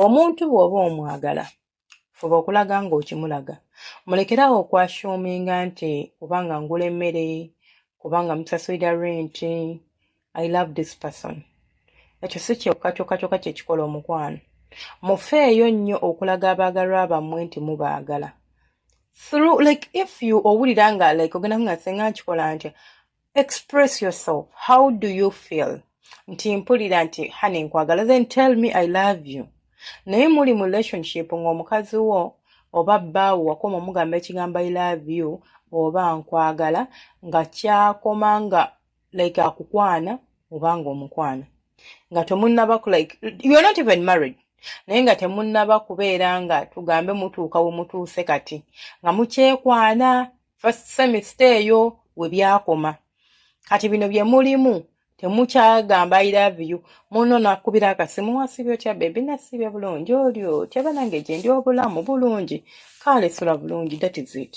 omuntu bw'oba omwagala fuba okulaga ng'okimulaga mulekerawo okwashuminga nti kubanga ngula emmere kubanga musasulira renti i love this person ekyo si kyokka kyokka kyokka kyekikola omukwano mufeeyo nnyo okulaga abaagalwa bammwe nti mubaagala through like if you owulira nga like ogenda nga senga nkikola ntya express yourself how do you feel nti mpulira nti hane nkwagala then tell me i love you naye muli mu relationship ng'omukazi wo oba bbaawo wakoma omugamba ekigambo i love you oba nkwagala nga kyakoma nga like akukwana obanga omukwana nga temunnaba like you're not even married naye nga temunnaba kubeera nga tugambe mutuuka we mutuuse kati nga mukyekwana first semester eyo we byakoma kati bino bye mulimu temukyagamba i love you muno nakubira akasimu wasibye otya bebi nasibye bulungi oli otya banange gyendi obulamu bulungi kale sula bulungi that is it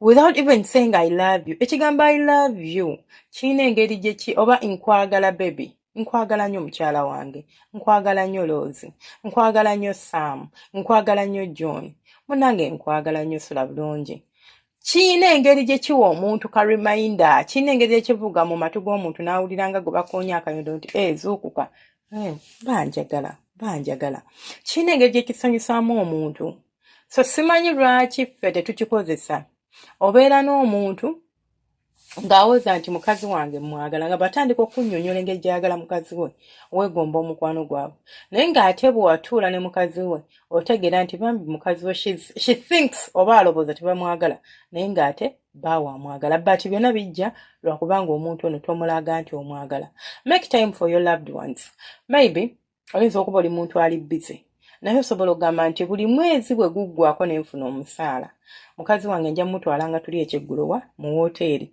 without even saying i love you ekigambo i love you kirina engeri gyeki oba nkwagala bebi nkwagala nnyo mukyala wange nkwagala nnyo loozi nkwagala nnyo sam nkwagala nnyo john munange nkwagala nnyo sula bulungi kirina engeri gye kiwa omuntu ka reminder kirina engeri gye kivuga mu matu g'omuntu n'awulira nga gwe bakoonya akanyodo nti e zuukuka eh, banjagala banjagala kirina engeri gye kisanyusaamu omuntu so simanyi lwaki ffe tetukikozesa obeera n'omuntu ng'awoza nti mukazi wange mwagala nga batandika okunyonyola engeri gyayagala mukazi we weegomba omukwano gwabwe naye ng'ate bwewatuula ne mukazi we otegeera nti bambi mukazi we she thinks oba alowooza tebamwagala naye ng'ate baawe amwagala but byonna bijja lwakubanga omuntu ono tomulaga nti omwagala make time for your loved ones maybe oyinza okuba oli muntu ali bize naye osobola okugamba nti buli mwezi bwe guggwako ne nfuna omusaala mukazi wange nja mumutwala nga tuli ekyeggulowa mu wooteeri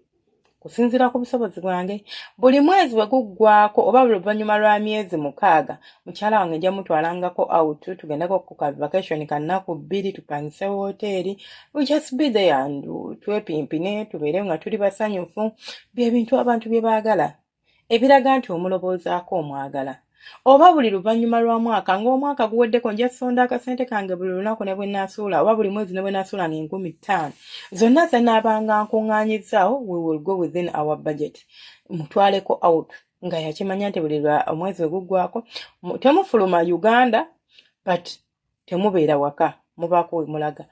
kusinziira ku busobozi bwange buli mwezi bwe guggwako oba buli luvannyuma lwa myezi mukaaga mukyala wange nja mutwalangako out tugendeko ku ka vacation kannaku bbiri tupangise wooteeri we just be there and twepimpine tubeere nga tuli basanyufu bye bintu abantu bye baagala ebiraga nti omuloboozaako omwagala oba buli luvannyuma lwa mwaka ng'omwaka guweddeko nja sonda akasente kange buli lunaku ne bwe naasuula oba buli mwezi ne bwe naasuula nga enkumi ttaano zonna zanaabanga nkuŋŋaanyizaawo we will go within our budget mutwaleko out nga yakimanya nti buli omwezi we guggwako temufuluma uganda but temubeera waka mubaako wemulaga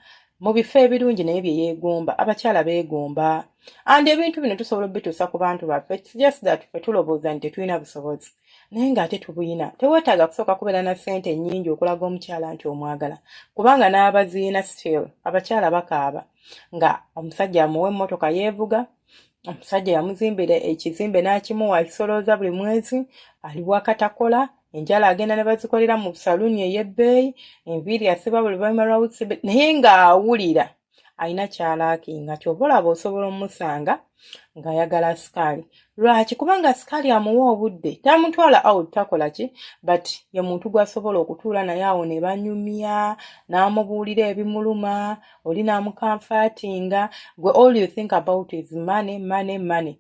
mu bifo ebirungi naye bye yeegomba abakyala beegomba and ebintu bino tusobola obituusa ku bantu baffe just that fe tulowooza nti tetulina busobozi naye ng'ate tubuyina teweetaaga kusooka kubeera na ssente ennyingi okulaga omukyala nti omwagala kubanga n'abaziina still abakyala bakaaba nga omusajja amuwa emmotoka yeevuga omusajja yamuzimbira ekizimbe n'akimuwa akisolooza buli mwezi ali wakatakola enjala agenda ne bazikolera mu saluuni ey'ebbeeyi enviiri asiba buli luvanyuma lwa wiiki naye ng'awulira alina kyalaaki nga kyova olaba osobola omusanga ng'ayagala sikaali lwaki kubanga sikaali amuwa obudde tamutwala out takola ki but ye muntu gw'asobola okutuula naye awo ne banyumya n'amubuulira ebimuluma oli namukamfatinga gwe all you think about is money money money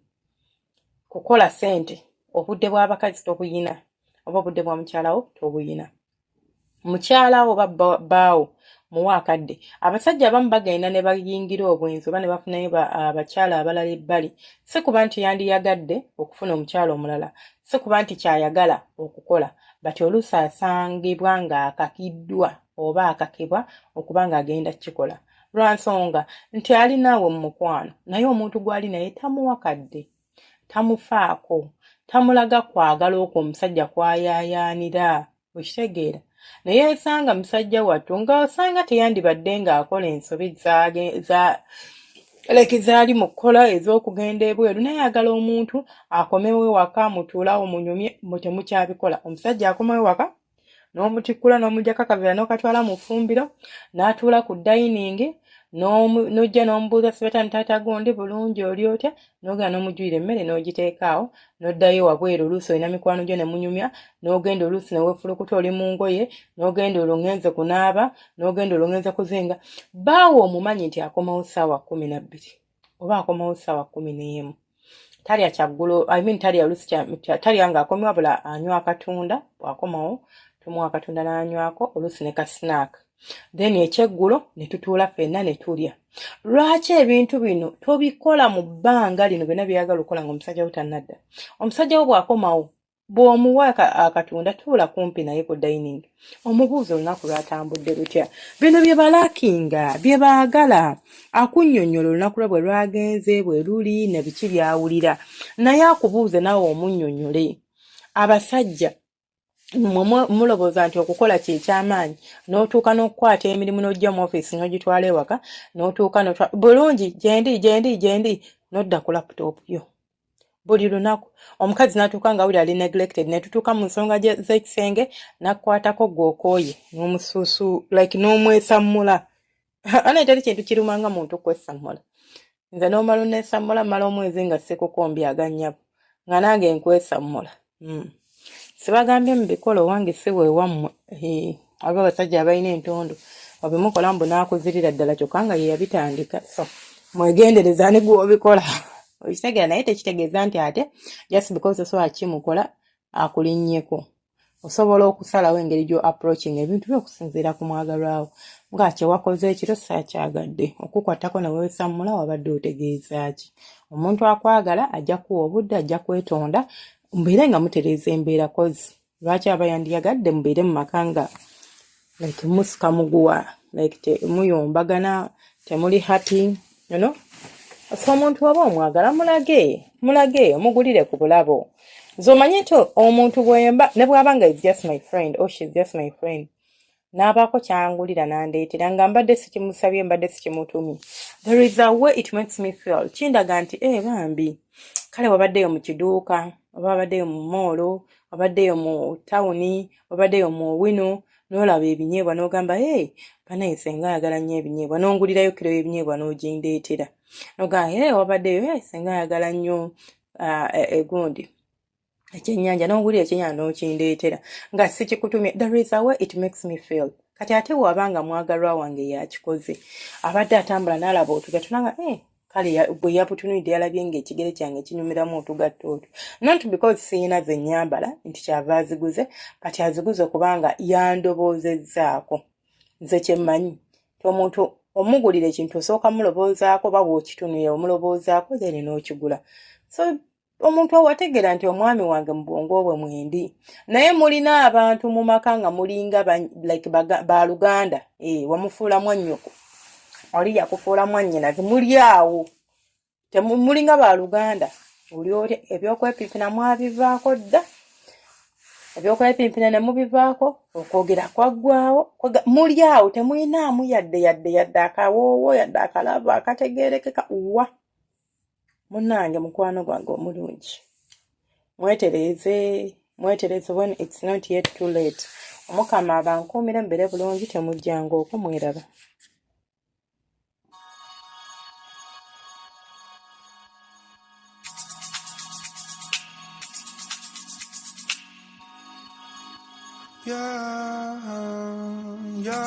kukola sente obudde bwabakazi tobuyina oba obudde bwa mukyalawo tobuyina mukyalawo oba baawo muwa akadde abasajja abamu bagenda ne bayingira obwenzi oba ne bafunayo abakyala abalala ebbali si kuba nti yandiyagadde okufuna omukyala omulala si kuba nti kyayagala okukola but oluusi asangibwa ng'akakiddwa oba akakebwa okuba ng'agenda kukikola lwa nsonga nti ali naawe mu mukwano naye omuntu gw'ali naye tamuwa kadde tamufaako tamulaga kwagala okwo omusajja kwayaayaanira okitegeera naye esanga musajja wattu nga osanga teyandibadde ng'akola ensobi za leki zaali mu kukola ez'okugenda ebweru naye agala omuntu akomewo ewaka mutuulawo munyumye mutemukyabikola omusajja akomewo ewaka n'omutikkula n'omugyako akavera n'okatwala mu ffumbiro n'atuula ku dayiningi n'ojja n'omubuuza sibata ni taata gundi bulungi oli otya n'ogenda n'omujjuyira emmere n'ogiteekaawo n'oddayo wabweru oluusi olina mikwano gyo ne munyumya n'ogenda oluusi ne weefulukuta oli mu ngoye n'ogenda olung'enze kunaaba n'ogenda olung'enze kuzinga baawo omumanyi nti akomawo ssaawa kkumi na bbiri oba akomawo sawa kumi n'emu talya kyaggulo i mean talya olusi talya nga akomi wabula anywa akatunda bwakomawo tomuwa akatunda n'anywako olusi ne ka snack then ekyeggulo ne tutuula fenna ne tulya lwaki ebintu bino tobikola mu bbanga lino byonna byeyagala okukola nga omusajja wo tannadda omusajja wo bw'akomawo bw'omuwa akatunda tuula kumpi naye ku dining omubuuza olunaku lwatambudde lutya bino bye balakinga bye baagala akunnyonnyola olunaku lwe bwe lwagenze bwe luli ne biki byawulira naye akubuuze naawe omunnyonnyole abasajja mmwe mulowooza nti okukola kye ky'amaanyi n'otuuka n'okukwata emirimu n'ojja mu ofiisi n'ogitwala ewaka n'otuuka bulungi gyendi gyendi gyendi n'odda ku laputopu yo buli lunaku omukazi natuuka nga wuli ali neglected netutuuka mu nsonga zekisenge nakwatako gwokooye nomusuusu like nomwesammula ana etali kintu kirumanga muntu kwesammula nze nomala onesammula mala omwezi nga sikukombyaga nyabo nga nange nkwesammula hmm. sibagambye mubikola owange si wewammwe aba abasajja abalina entondo obimukola mbu nakuzirira ddala kyokka nga yeyabitandika so mwegendereza ni gwobikola okitegera naye tekitegeeza nti ate just because osobola kimukola akulinnyeko osobola okusalawo engeri gyo approaching ebintu byo okusinziira ku mwagalwawo nga kyewakoze ekiro sakyagadde okukwatako newewesammula wabadde otegeeza ki omuntu akwagala ajja kuwa obudde ajja kwetonda mubeere nga mutereeza embeera kozi lwaki aba yandiyagadde mubeere mu maka nga like musika muguwa like temuyombagana temuli happy you know so omuntu oba omwagala mulage mulage omugulire ku bulabo nze omanye nti omuntu bwemba ne bwaba nga is just my friend or oh, she is just my friend n'abaako kyangulira n'andeetera nga mbadde sikimusabye mbadde sikimutumye there is a way it makes me feel kindaga nti e bambi kale wabaddeyo mu kiduuka oba wabaddeyo mu moolo wabaddeyo mu tawuni wabaddeyo mu owino n'olaba ebinyeebwa n'ogamba e banaye senga ayagala nnyo ebinyeebwa n'ongulirayo kiro y'ebinyeebwa n'ogindeetera nogamba e wabaddeyo e senga ayagala nnyo ah, e, egundi ekyenyanja nogulira ekyenyanja nokindeetera nga sikikutumye the reason why it makes me feel kati ate waba nga mwagalwa wange yakikoze abadde atambula nalaba otuga tunanga eh, kale bwe yabutunulidde yalabye nga ekigere kyange kinyumiramu otugatta otwo not because siyina ze nyambala nti kyava aziguze kati aziguze kubanga yandoboozezaako nze kyemmanyi ti omuntu omugulira ekintu osooka muloboozaako oba bwokitunulira omuloboozaako then n'okigula so omuntu owategeera nti omwami wange mu bwongo bwe mwendi naye mulina abantu mu maka nga mulinga like baluganda e, eh, wamufuula mwannyoko oli yakufuula mwannyina ti muli awo mulinga baluganda oli oli ebyokwepimpina mwabivaako dda ebyokwepimpina ne mubivaako okwogera kwaggwawo muli awo temulinaamu yadde yadde yadde akawoowo yadde akalaavu akategeerekeka wa munange mukwano gwange omulungi mwetereeze mwetereeze when it's not yet too late omukama abankuumire mubere bulungi temujjanga oku mweraba Yeah, yeah.